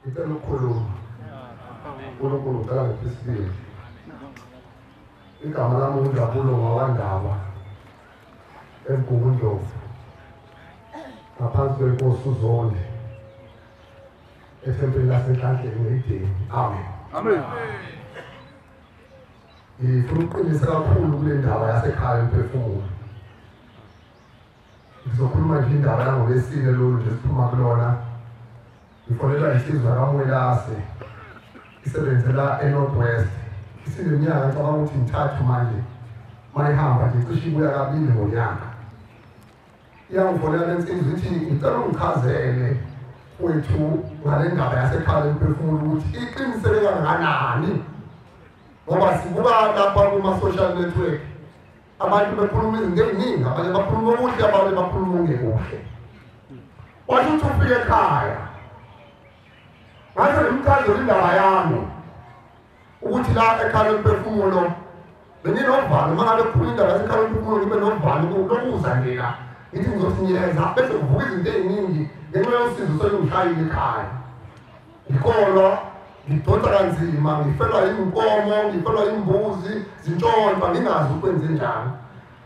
ngicela ukukhuluma unkulunkulu ngicela ngiphi isibili igama lami unjabulo ngawandaba emgubundlovu ngaphansi kwenkosi uzonde ethempelini lasenhlanhleni ngeyideni amen amen ngifuna ukuqinisa kakhulu kule ndaba yasekhaya emphefumulo Ngizokhuluma nje indaba yangolesine lolu nje siphuma kulona. Ngifonelwa isizwe kaMwelase isebenzela eNorth West. Isineminyaka ngicabanga ukuthi ngithathu manje mayihamba nje cishe ibuya kabili ngonyaka. Iyangifonela le nsizwa ithi ngicela ungichazele wethu ngale ndaba yasekhaya emphefumulo ukuthi iqiniseke kangakanani ngoba sibuka lapha kuma-social network abantu bekhuluma izinto eziningi abanye bakhuluma okuhle abanye bakhuluma ongekuhle wathi uthi ufike ekhaya ngase ngimchazela indaba yami ukuthi la ekhala umphefumulo benginovalo uma ngabe kukhuluma indaba yasekhala umphefumulo ngibe novalo lokuza nje la ngithi ngizosinyeza bese kuvuka izinto eziningi ngenxa yosizo solungishayile ekhaya Ngikholwa ngidonsa kanzima ngifelwa yinkomo ngifelwa yimbuzi zintshontsha ngingazi ukwenze njani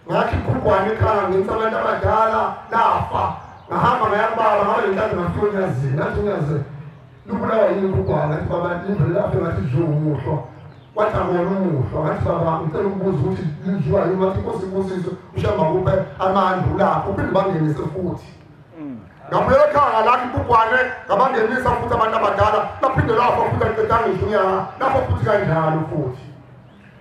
ngathi iphugwane ekhaya ngenisa abantu abadala lafa ngahamba ngayakubaba ngabe lenkazi ngafika onyazini ngathi unyaze lubulawa yini iphugwane ngathi baba indlela lafe ngathi dliwa umuhlwa wathi akona umuhlwa ngathi baba ngicela ukubuza ukuthi lidliwa yini ngathi inkosi ibusiso ushamba kuphe amandla ulapho uphinde bangenise futhi ngabuyela ekhaya ngalapha ibhubhwane ngabangenisa futhi abantu abadala baphinde lafa futhi aqedanga izinyanga lapho futhi kanjalo futhi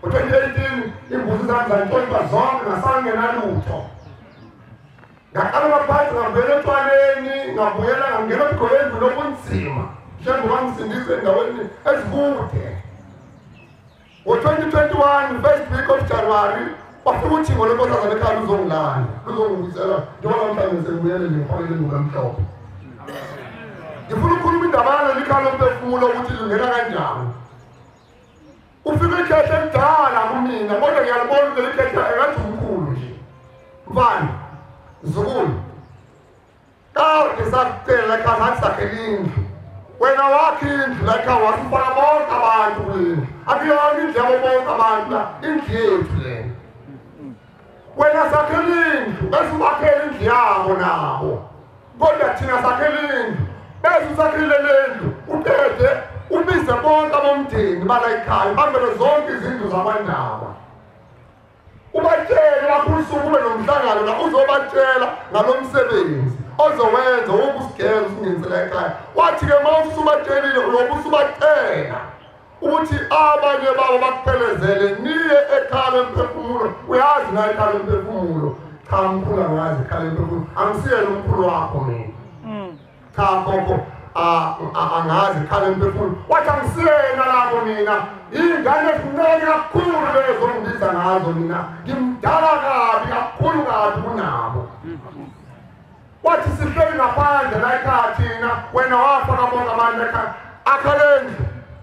ngo-2018 imbuzi zami zantshontsha zonke ngasangenalutho ngaqala ngaphansi ngabuyela etshwaleni ngabuyela ngangena ebugoleni lokunzima njengoba ngisindise endaweni ezikude Ngo-2021 first week of January wafika uthingo lwenkosazana ekhaya luzongilanda luzongibizela njengoba mhlawumbe sengibuyele ngifakele induku emhlophe ngifuna ukukhuluma indaba yaleli khaya lomphefumulo ukuthi lingena kanjani ufike ikhetha elidala kumina kodwa ngiyalibona ukuthi leli khetha engathi umkhulu nje mfana mzukulu Kade sakucela la ekhaya ngathi sakhela indlu wena wakhe indlu la ekhaya wasifaka bonke abantu kulendlu akuyona indlu yabo bonke abantu la indlu yethu lena wena sakhela indlu bese ubakhela indlu yabo nabo kodwa thina sakhela indlu bese usakhile le ndlu uqede ubize bonke abomndeni bala ekhaya bambele zonke izindlu zakwandaba ubatshele baphulusuku ube nomhlangano la uzobatshela ngalo msebenzi ozowenza woku usigeza usingenisela ekhaya wathi-ke uma usubatshelile uyobe usubacela ukuthi abanye babo bakuphelezele niye ekhala emphefumulo uyazi naye ekhala emphefumulo cha mkhulu angazi ekhala emphefumulo angisiyena umkhulu wakho mina cha gogo angazi khale mphefumulo wathi angisiyena lapho mina iy'ngane ezincane kakhulu lezo ngibiza ngazo mina ngimdala kabi kakhulu kabi kunabo wathi sihleli ngaphandle layikhaya thina wena wafa kabonga abantu ekhaya akhalendlu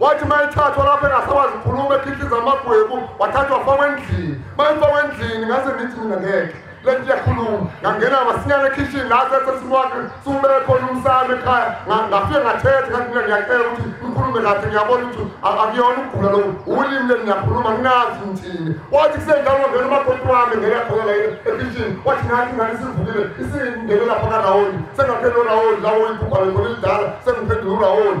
wathi uma ethathwa lapho engasakwazi ukukhuluma ekhihliza amagwebu wathathwa wafakwa endlini uma efakwa endlini ngase ngithi mina ngeke le nto iyakhuluma ngangena masinyane ekhishini la sesesimwakhe siwubeke khona umsana ekhaya ngafike ngathetha kanti mina ngiyacela ukuthi ngikhulume kahle ngiyabona ukuthi akuyona ukugula loku ulimi leni ngiyakhuluma nginazi ngithini wathi kusenjalo ngangena umakoti wami ngeyakholela ekhishini wathi ngathi ngani sivukile isingingene lapha karawoni sengaphela urawoni lawo imphuphalo khona elidala sengiphendula urawoni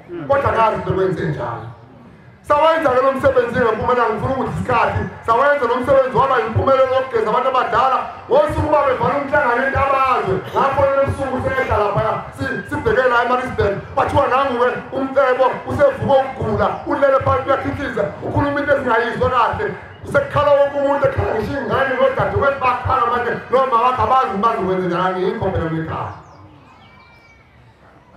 kodwa ngazi into kwenze njalo sawenza ke lo msebenzi ngempumelelo ngifuna ukuthi isikhathi sawenza lo msebenzi waba yimpumelelo yokugeza abantu abadala ngosuku uba bevala umhlangano entabazwe ngafonela ebusuku sehla laphaya sibheke la emarisburg kwathiwa nanguwe umcebo usevuka ukugula ulele phansi uyakhithiza ukhuluma into ezingayizwa kahle sekukhala wonke umuntu ekhala ngisho ingane nodadewethu bakhala manje noma wakho abazi manje wenze njani yikho phela mekhala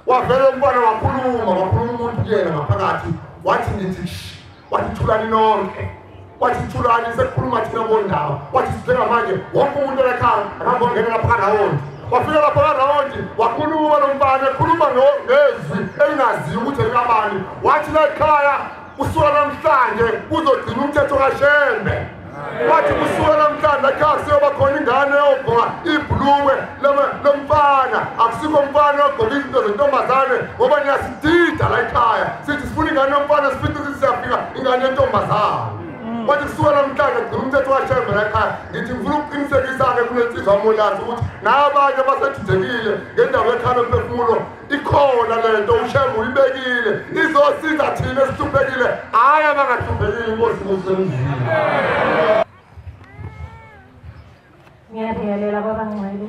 wavela umfana wakhuluma wakhuluma umuntu kuyena ngaphakathi wathi ngithi wathi thulani nonke wathi thulani sekukhuluma thina bondaba wathi sibheka manje wonke umuntu olekhaya akangongena lapha rawundi wafika lapha karawundi wakhuluma lo mfana ekhuluma ngezwi elingaziwa ukuthi likabani wathi lekhaya kusuka namhlanje kuzogcina umthetho kashembe wathi kusuka namhlanje ekhaya kuseyoba khona ingane eyogqoka ibhuluwe lomfana akusikho umfana oyogqoka izinto zentombazane ngoba niyasidida la ekhaya sithi sifuna ingane yomfana sifithi sithi siyafika ingane yentombazane wathi kusuka namhlanje gcina umthetho washembe la ekhaya ngithi ngifuna ukuqinisekisa-ke kunensizwa molazi ukuthi nabanye basedidekile ngendawo yekhalo mphefumulo ikhona lento ushembe uyibekile izosiza thina esihluphekile hhayi abangahluphekile inkosi kusemzini ngiyabingelela kwabangcwele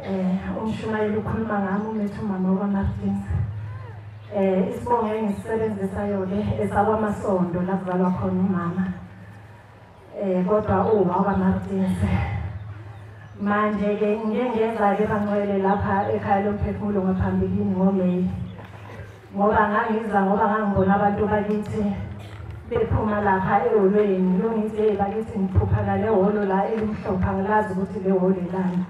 um umshumayeli ukhuluma ngami umethu umama wakamartins um eh, isibongo engisisebenzisayo-ke esakwamasondo lakuzalwa khona umama Eh kodwa uma kwaMartins manje ke ngike ngenza ke bangcwele lapha ekhaya lomphefumulo ngaphambilini ngoMay ngoba ngangiza ngoba ngangibona abantu bakithi bephuma lapha eholweni lungithi hey bakithi ngiphupha nale holo la elimhlopha ngilazi ukuthi le holo ilani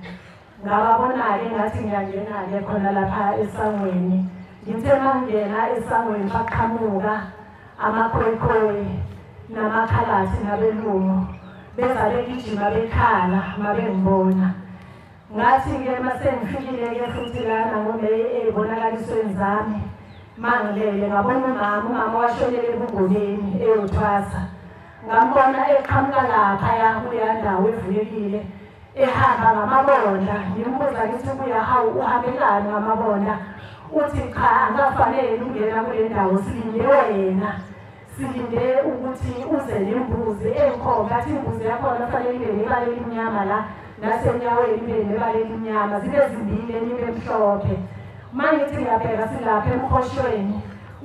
Ngababona-ke ngathi ngiyangena-ke khona lapha esangweni. Ngithe mangena esangweni baqhamuka amakhoyikhoyi namakhalathi nabelungu beza begijima bekhala mabengibona. Ngathi-ke uma sengifikile-ke futhi lana ngomeyi ey'bonakalisweni zami mangilele ngabona umama umama washonele ebugoleni eyothwasa ngambona eqhamuka laphaya kuleya ndawo evulekile ehamba ngamabonda ngimbuza ngithi buya hawu uhambelani ngamabonda uthi cha angafanele ukungena kule ndawo silinde wena silinde ukuthi uze nembuzi engikhomba athi imbuzi yakhona kufanele ibe nebala elimnyama la nasenyaweni ibe nebala elimnyama zibe zimbili enye ibe mhlophe uma ngithi ngiyabheka silapha emkhoshweni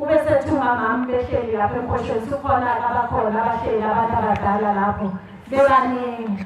ube sethi umamami behleli lapha emkhoshweni sukhona abakhona abahleli abantu abadala lapho bebaningi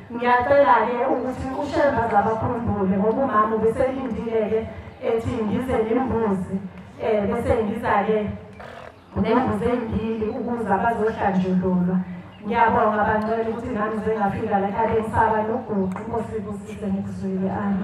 Ngiyacela-ke ukuthi uShemba zabakhumbule ngoba umama ubeselindile-ke ethi ngize nembuzi um bese ngiza-ke nembuzi ezimbili ukuze bazohlanjululwa ngiyabonga bancela ukuthi nami zengafika la ekhabeni saba noguqi inkosi ibusise ngikuzwile ami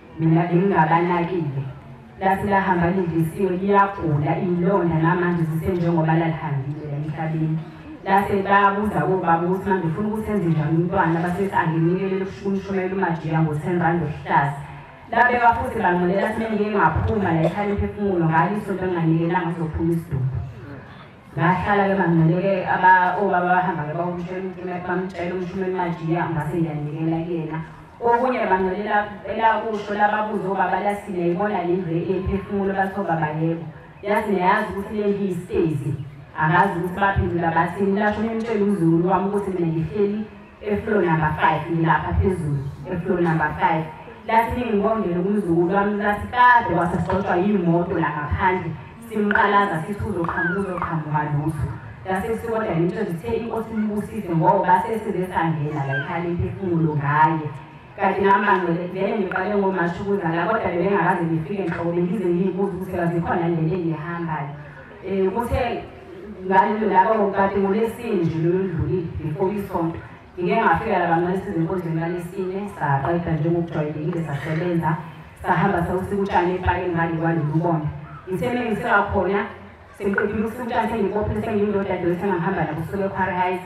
mina bengingabanakile lase lahamba lindisiwe liyagula iy'londa namanje zisenjengoba lalihambile la emhlabeni lase babuza kobaba ukuthi manje ufuna ukuthi enze njani umntwana basethi anginikelele umshumayela umajiya ngo-ten rand ohlaza labeka futhi bangimelela simengike ngaphuma la ekhaya imphefumulo ngalo isonto enginganikelanga sophuma isidumbu ngahlala ke mangineke aba obaba bahamba ke bawumtshela umtumela bamtshela umshumeli majiya ngase ngiyanikela kuyena okunye bangelela elakusho lababuza obaba lasile ibona le ndlu ephefumulo bathi obaba yebo yazi neyazi ukuthi le ndlu yisitezi akazi ukuthi baphendula bathini lasho umtshela umzulu wami ukuthi mina ngihleli eflow number 5 ngilapha phezulu eflow number 5 lathi ningibongele kumzukulu wami lathi kade wasasixoxwa yimoto la ngaphandle simqalaza sithi uzoqhamuka uzoqhamuka lutho lase sikodwa yinto zithe inkosi imbusise ngoba sesizesangena la ikhale imphefumulo ngaye kanti namanje vele ngiqale ngomasho ukuzala kodwa bebengakaze ngifike nhlobo bengize ngiyibuza ukuthi kazikhona nento engihambayo Eh kuthe ngalelo laba ngokati ngolesine nje loludlulile before isonto. Ngike ngafika la bancane sizenkonzweni ngalesine saqeda njengokujwayelekile sasebenza sahamba sawusika utshani epakeni ngale kwalolu bonda. Ngithe mengiseka khona sengiqedile ukusika utshani sengibophe sengiyindoda dose ngangihamba nabo kusuka equarry heights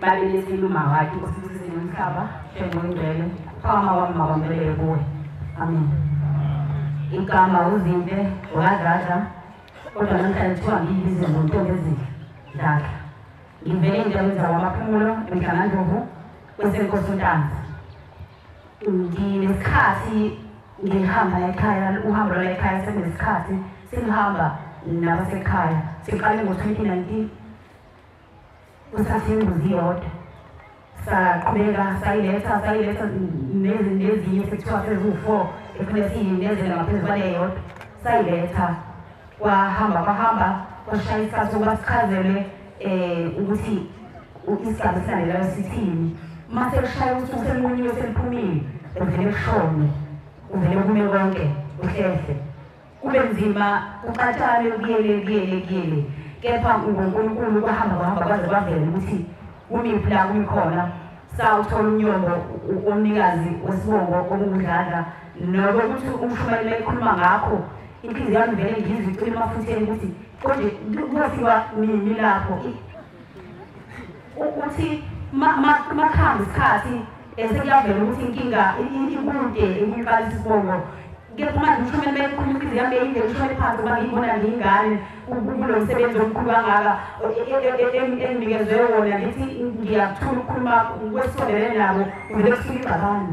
Babe nesintu mawakhe usisize nomhlaba njengongcwele phakama wami mabambelele kuwe amen igama uzimpe wakadladla kodwa namhlanje kuthiwa ngiyibize ngontombi ezinhle dladla ngivele endaweni zakwamaphumulo emdlanganduvu kwesenkosi untanzi nginesikhathi ngihamba ekhaya uhambo lwala ekhaya sekunesikhathi sengihamba nabasekhaya siqale ngo-twenty nineteen kuthatha imbuzi yodwa saqhubeka sayiletha sayiletha nezinye sekuthiwa seziwu-four ekufuneka siyinezele ngaphezu kwale yodwa sayiletha kwahamba kwahamba kwashaya isikhathi sokuba sichazelwe um ukuthi isigaba esilandelayo sithini uma sekushaya usuku selinqunyiwe seliphumile kuvele kushone kuvele kume konke kuhlehle Kube nzima kuxatshane kuyele kuyele kuyele kepha nguNkulunkulu kwahamba kwahamba kwaze kwavela ukuthi kumiphi la kumi khona sawuthola umnyombo omnikazi wesibongo okungudladla nobe ukuthi umshumane mayikhuluma ngakho inhliziyo yami vele ngizwe icwile emafutheni ukuthi konje kuyofiwa nini lapho ukuthi makuhamba isikhathi esekuyavela ukuthi inkinga ikude ukuqalisa isibongo kepha manje usho kumele bekhuluma ukuthi zihambe yinde usho ephansi uba ngiyibona ngiyingane kulo msebenzi omkhulu kangaka enginikezwe wona ngithi ngiyakuthula ukukhuluma kwesondelene nabo uvele kusuke igxabano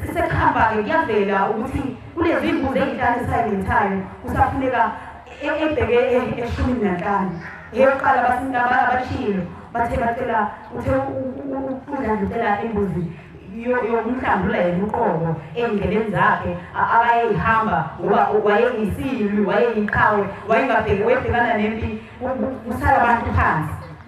Sisekhamba-ke kuyavela ukuthi kunezimbuzi ezinhlanu ezisayimithayo kusafuneka e-, ebheke e-, eshumini nanhlanu eyokuqala abashilo bathe bacela uthe udlandlutela imbuzi yokumhlambula yena uqobo ey'ndleleni zakhe abayeyihamba ngoba wayeyisilwi wayeyiqhawe wayengabheki webhekana nempi kusala abantu phansi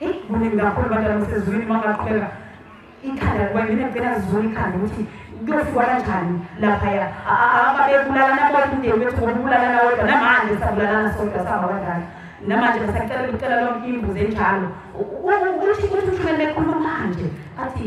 Eish kuningi kakhulu abantu abasezulwini uma ngaqhubeka ikhanda kuba mina ngicela ngizule ikhanda ukuthi kuyofikwa kanjani laphaya ababebulalana bodwa umndeni wethu ngoba ubulalana wodwa namanje sabulalana sodwa sihamba kanjani namanje besacela kucela lonke imbuzi enjalo ukuthi ukuthi ushumele bekhuluma manje athi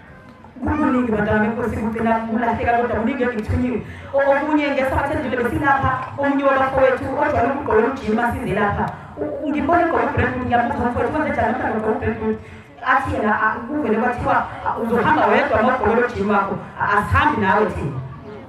kuningi madame nkosi ngicela kulahleka kodwa kuningi engithunyiwe okunye ngesikhathi endile besilapha omunye wabafowethu ojwayele ukugqola umjima size lapha ngibone igqola ubrand ngiyabuza mfowethu kwenze njani mhlawumbe ugqola ubrand athi yena kuvele kwathiwa uzohamba wedwa nogqola lojima wakho asihambi nawe thina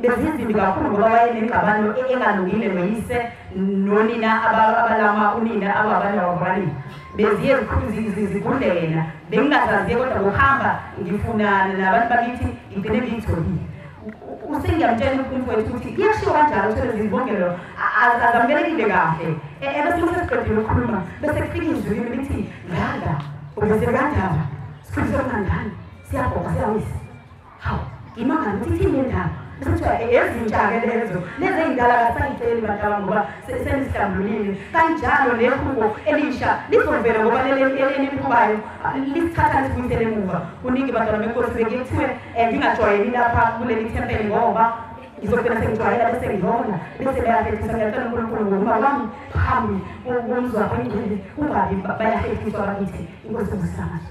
bezinzima kakhulu ngoba wayenengxabano engalungile noyise nonina abalama unina ababanye wakubalini beziye zigudle yena bengingazaziye kodwa ngokuhamba ngifunana nabantu bakithi ngigcine ngiyitholile usengiyamtshela ukuthi umfowethu ukuthi kuyashiwo kanjalo uthole zibongelo azamukelekile kahle e, ebese uma sesiqedile ukukhuluma bese kufika izwi kimi lithi ngada ubese kandaba sikhulise kangangani siyabhoka siyawisa Hawu, ngimangala ukuthi ithini le ndaba. Bese kuthiwa "E- ezintsha-ke lezo, lezi ey'ndala kasayitsheli bantu aba ngoba se- senizihlambulile. Kanjalo nehubo elisha lizovela ngoba leli eli- eliqhubayo ah, lisithatha lisibuyisele emuva. Kuningi bantwana benkosi beke kuthiwe eh, ngingajwayeli lapha kuleli thempeli ngoba ngizogcina sengijwayela bese ngihona bese bayahlehlisa ngiyacela unkulunkulu ngokuba kwami phambi komzi wakho ingcwele kungabi ba- bayahlehlisa bakithi inkosi ngosamazo